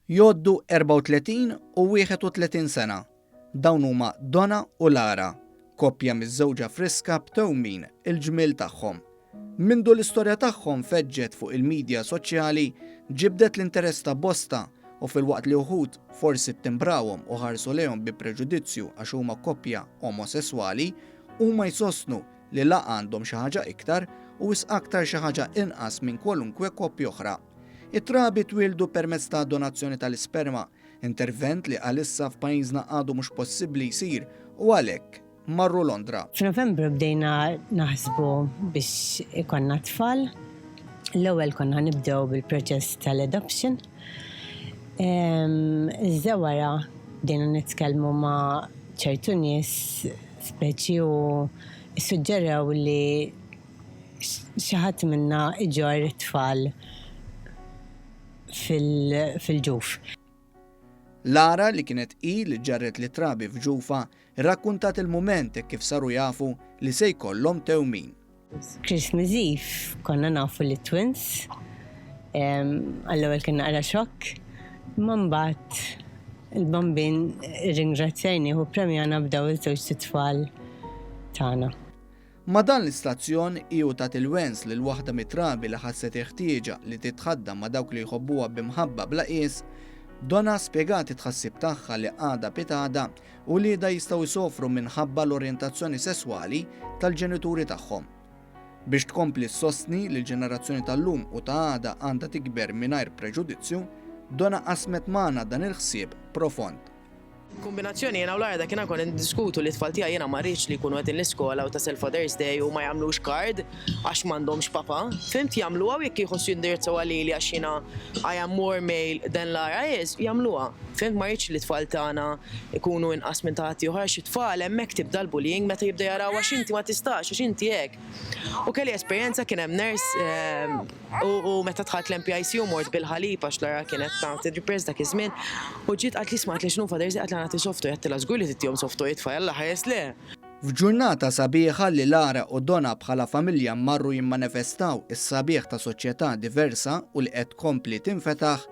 Jgħoddu 34 u 31 sena. Dawn huma Dona u Lara, koppja miżżewġa friska b'tewmin il-ġmiel tagħhom. Mindu l-istorja tagħhom feġġet fuq il-midja soċjali ġibdet l-interess ta' bosta u filwaqt li uħud forsi ttimbrawhom u ħarsu lejhom bi preġudizzju għax huma koppja omosesswali, huma jsostnu li la għandhom xi ħaġa iktar u wisq aktar xi ħaġa inqas minn kwalunkwe koppja oħra. It-trabi twieldu permezz ta' donazzjoni tal-isperma, intervent li għalissa f'pajjiżna għadu mhux possibbli jsir u għalhekk marru Londra. F'Novembru bdejna naħsbu biex ikollna t-tfal. L-ewwel konna ħanibdew bil-proċess tal-adoption. Iżda wara bdejna nitkellmu ma' ċertu nies speċi u ssuġġerew li xi ħadd minna jġorr it-tfal fil-ġuf. Lara, li kienet hi li ġarret lit-trabi f'ġufha, rrakkuntat il-mument hekk kif saru jafu li se jkollhom tewmin. Christmas Eve konna nafu li twins. Għall-ewwel kien naqra xokk. Ma mbagħad il-bambin ringrazzjajni u premjana b'daw il-żewġ tfal tagħna. Ma' dan l-istazzjon hi u tat il-wens lil waħda mit-trabi li ħasset il-ħtieġa li titħaddam ma' dawk li jħobbuha b'imħabba bla qies. Donna spjegat it-tħassib tagħha li għadha pitgħadha Uliedha jistgħu jsofru minħabba l-orjentazzjoni sesswali tal-ġenituri tagħhom. Biex tkompli ssostni li l-ġenerazzjoni tal-lum u ta' għada għandha tikber mingħajr preġudizzju, Donna qasmet magħna dan il-ħsieb profond. Kombinazzjoni jiena u Larda kiena konna niddiskutu li t-tfal tiegħi jiena ma rridx li jkunu qegħdin l-iskola u tasal Father's Day u ma jagħmlux card. għax m'għandhomx papa. Fhimt jagħmluha u jekk jħossu jindirizzawha lili għax jiena I am more male than Lara is, jagħmluha. Fhimt ma rridx li t-tfal tagħna jkunu inqas minn ta' ħaddieħor għax it-tfal hemmhekk tibda l-bullying meta jibda jaraw għax inti ma tistax, għax inti hekk. U kelli esperjenza kien hemm nurse u meta dħalt l-MPICU mort bil-ħalib għax Lara kienet tagħti drippers dak iż-żmien u ġiet qaltli isma' għedtlek x'inhu Father Jsi, għedtla nagħti soft toy, għedtilha żgur li tittihom soft toy it-tfal, Alla ħares le! F'ġurnata sabiħa li Lara u Dona bħala familja marru jimmanifestaw is-sabiħ ta' soċjetà diversa u li qed tkompli tinfetaħ,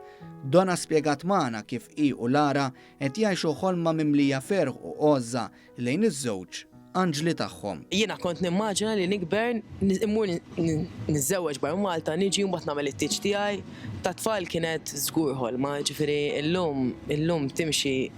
Dona spjegat magħna kif hi u Lara qed jgħixu ħolma mimlija ferħ u għożża lejn iż-żewġ anġli tagħhom. Jiena kont nimmaġina li nikber, immur niżżewweġ barra Malta, niġi u mbagħad nagħmel it-tieġ tiegħi. Tat-tfal kienet żgur ħolma, jiġifieri llum, illum timxi